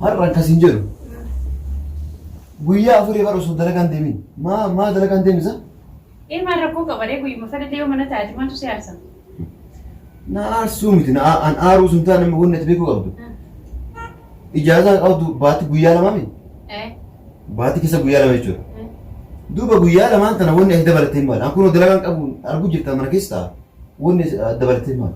Har'a akkas hin jedhu. Guyyaa afurii bara osoo dalagaan deemin. Maa maa dalagaan deemisa? Ee maal rakkoo qabaree guyyuma sanatti yoo mana taate maaltu si aarsa? Na aarsuu miti na aa- an aaruu sun taane amma wanni ati beekuu qabdu. Ijaazaa qabdu baati guyyaa lamaa miti. Ee Baati keessa guyyaa lama jechuudha. ee. Duuba guyyaa lamaan tana wanni ati dabalatee maali? An kunoo dalagaan qabu arguu jirta mana keessa ta'a. Wanni ati dabalatee maali?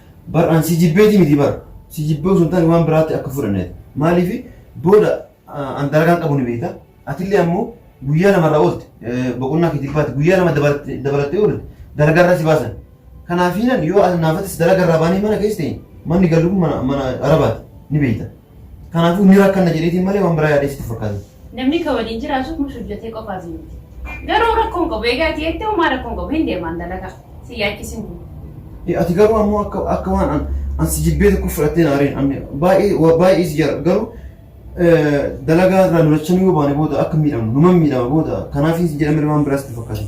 Bar an si jibbeeti miti bar si jibbee osoo hin taane waan biraatti akka fudhanneeti. Maaliif booda an dalagaan qabu ni beekta. Atillee ammoo guyyaa lama irraa oolte boqonnaa keetiif baate guyyaa lama dabalattee oolte dalagaa irraa si baasan. Kanaafiinan yoo naaf atis dalagaa irraa baanee mana keessa ta'e manni gallu kun mana arabaati ni beekta. Kanaafuu ni rakkanna jedheetiin malee waan biraa yaadee sitti hin fakkaatin. Namni ka waliin jiraatu mush hojjatee qofaa fi miti. Garuu rakkoo hin qabu egaa ati jettee homaa rakkoo hin qabu hin deemaan dalagaa si yaachisin kun. Eh, Ati garuu ammoo akka akka waan an an si jibbee tokko fudhattee na areen anni baay'ee waa baay'ee si jara garuu eh, dalagaa irraa nu lachanuu yoo baane booda akka miidhamnu numan miidhama booda kanaaf hin jedhamne waan biraa sitti hin fakkaatin.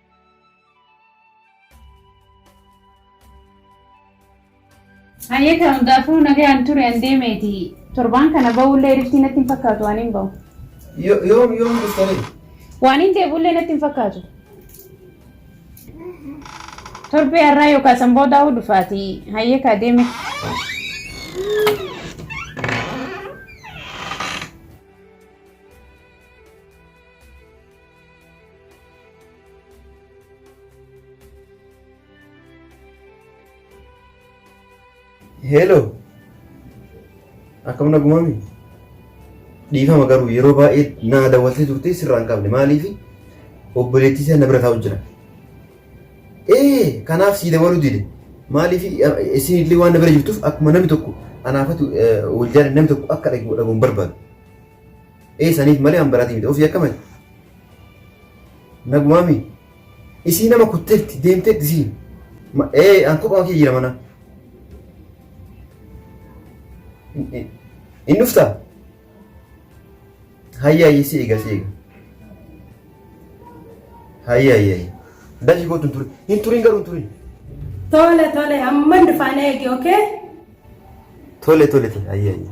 Hayyee kan hundaafuu nagaan ture an deemeeti. Torbaan kana ba'ullee riftii natti hin fakkaatu waan hin ba'u. Yo- Yoom yoom dhuftanii? Waan hin deebi'ullee natti hin fakkaatu. Torbee har'aa yookaan san boodaa hoo dhufaati. Hayyee kaa deeme. Hello. Akkam nagumami? Dhiifama garuu yeroo baay'ee na daawwattee turte sirraa hin qabne maaliif obboleettii isaa na bira taa'u jira. Ee kanaaf sii dabaluu dide maaliif isin illee waan na bira jirtuuf akkuma namni tokko anaafatu wal jaalladhe namni tokko akka dhagu dhaguun barbaadu. Ee saniif malee an baratii miti ofii akka mali. Nagumaami. Isii nama kutteetti deemteetti isiin. Ma- Ee an kophaa kee jira mana. In- in- In dhuftaa? Hayya hayya si eega si eega. Hayya hayya hayya. Dashi kootu hin turin. Hin turin garuu hin turin. Tole tole amman dhufaan eegi okay? Tole tole tole hayya hayya.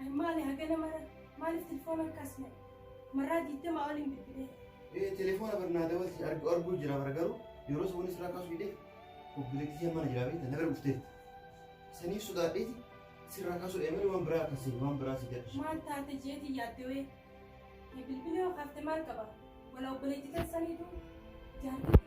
Ani maali hagana mara maaliif telefoona hin kaasne marraa digdamaa waliin bilbilee. Ee telefoona barnaa dawalti argu arguu jira bara garuu yeroo sun sirraa kaasuu hidhee obboleettii ishee mana jiraa beekta nagar dhufteetti. Saniif sodaadheeti sirraa kaasuu dhee malee waan biraa akkasii waan biraa si gadhisu. Maal taate jeeti yaaddewee ni bilbilee yoo kaafte maal qaba wala obboleettii keessaniitu jaartii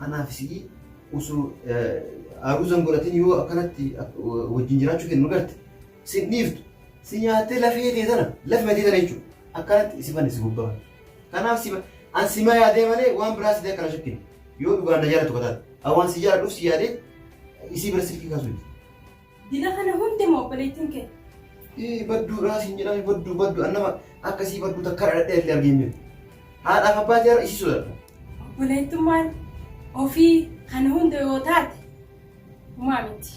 Anaaf si'i osoo aruuzan godhatin yoo akkanatti wajjin jiraachuu kennu garte sin dhiiftu si nyaattee lafee tee tana lafee tee tana jechuudha. Akkanatti si fanne si gubbaa. Kanaaf si an si maa yaadee malee waan biraa si ta'e kana shakkine yoo dhugaan na jaalatu kataate. Awaan si jaaladhuuf si yaadee isii bira silkii kaasuu Dila kana hundi moo obboleettiin kee? Ii badduu raa siin jedhame badduu badduu an nama akkasii badduu takka dhadhee illee argee hin beeku. Haadhaaf abbaa seera isii sodaadha. Obboleettummaan ofii kana hunda yoo taate humaa miti.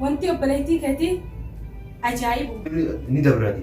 Wanti obboleettii keetii ajaa'ibu. Ni dabrati.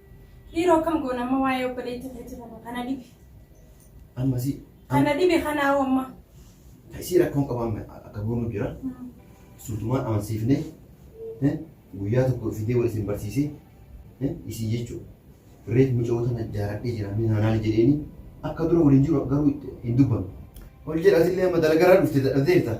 Dhiiroo akkam goona amma waa'ee obboleetti ofiitti kana kana dhibe. Amma si Kana dhibe kana hoo amma. isii rakkoon qabu amma akka goonu jira. Suutumaan amansiifnee eh, guyyaa tokko fidee wal isin barsiisee eh, isii jechuudha. Reef muca'oo tana jaaladhee jira mee naanaa jedheeni akka dura waliin jiru garuu itti hin dubbanne. Ol jedhatillee amma dalagaraa dhufte dadhabdeerta.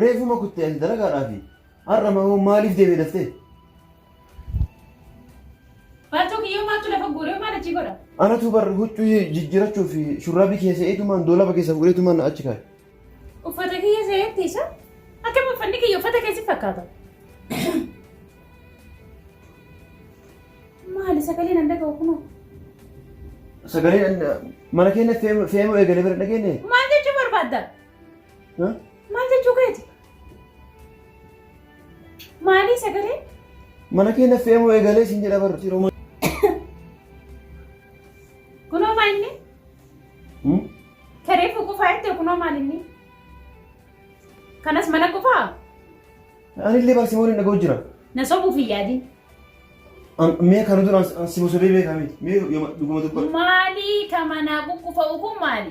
Reefuma kutte ati dalagaadhaafi. Har'a moo maaliif deemee daftee? Baatoo kiyyoo maaltu lafa guuree maal achi godha? Anatu bar huccuu jijjiirachuuf shurraabii keessa eetumaan doolaba keessa fuudheetumaan achi kaa'e. Uffata kiyya seetti isa? Akkam uffanni kiyya uffata keessi fakkaata? Maali sagaleen an dhaga'u kunoo? Sagaleen mana keenya fe'amuu eegalee bira dhageenye. Maal jechuu barbaadda? Maal jechuu keeti? Maalii sagalee? Mana kee naffee moo eegalee siin jedha barru yeroo Kunoo maal inni? Tareef qufaa jettee kunoo maal inni? Kanas mana qufaa? Ani illee barsi waliin dhagoo jira. Na sobuuf hin yaadin. Mee kana duraan si bosodee beekaa miti. Mee dhuguma dubba. Maalii ka manaa quqqufa'u kun maali?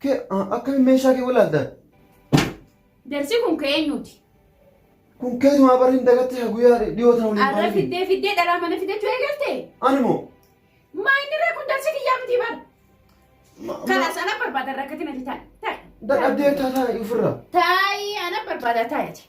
Ke akkami meeshaa kee walaalta? Jarsi kun ka eenyuuti? Kun keetumaa barri hin dagatte ka guyyaa dhiyoo tana waliin Arra baanee fi- fiddee fiddee dhalaa mana fidachuu eegalte? Ani moo? Maa inni irraa kun jarsi kiyyaa miti bar. Ma- ma- Kanas ana barbaada rakkatina fitaan. Dadhabdee taataa ofirraa. Taayi ana barbaada taayati.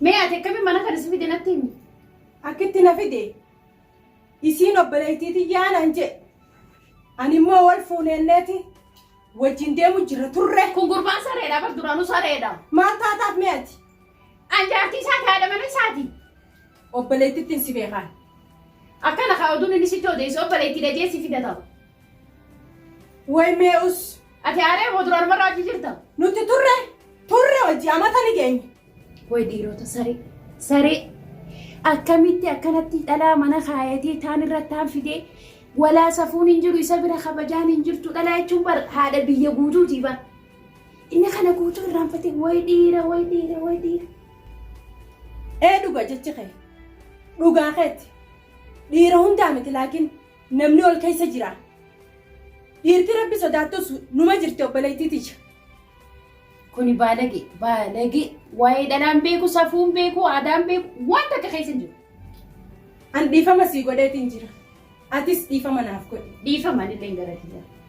Mee ati akkamiin mana kana si fide natti himi. Akkitti na fide isiin obboleettii tiyyaa naan jedhe. Ani immoo wal fuuneenneeti wajjin deemu jirra turre. Kun gurbaan sareedha bar duraanuu sareedha. Maal taataaf mee ati? An jaartii isaati haadha mana isaati. Obboleettittiin si beekaan. Akkana kaa oduun inni sitti odeessu obboleettii dajee si fida ta'u. Way mee us. Ati aaree moo duraan marraa achi jirta? Nuti turre turre hojii amata ni geenye. Way dhiirota saree saree akkamitti akkanatti dhalaa mana kaayatee taan irratti taan fidee walaa safuun hin jiru isa bira kabajaan hin jirtu dhalaa jechuun bar haadha biyya guutuuti bar. Inni kana guutuu irraanfatee way dhiira way dhiira way dhiira. Ee dhuga jechi kee. Dhugaa keetti. Dhiira hundaa miti laakiin Namni ol keessa jira. Dhiirti rabbi sodaattus numa jirti obboleettii tiyya. Kuni baalage baalage waa'ee dhalaan beeku safuun beeku aadaan beeku waan takka keessa hin jiru. An dhiifama sii godheetiin jira. Atis dhiifama naaf godhi. Dhiifama anillee gara kiyya.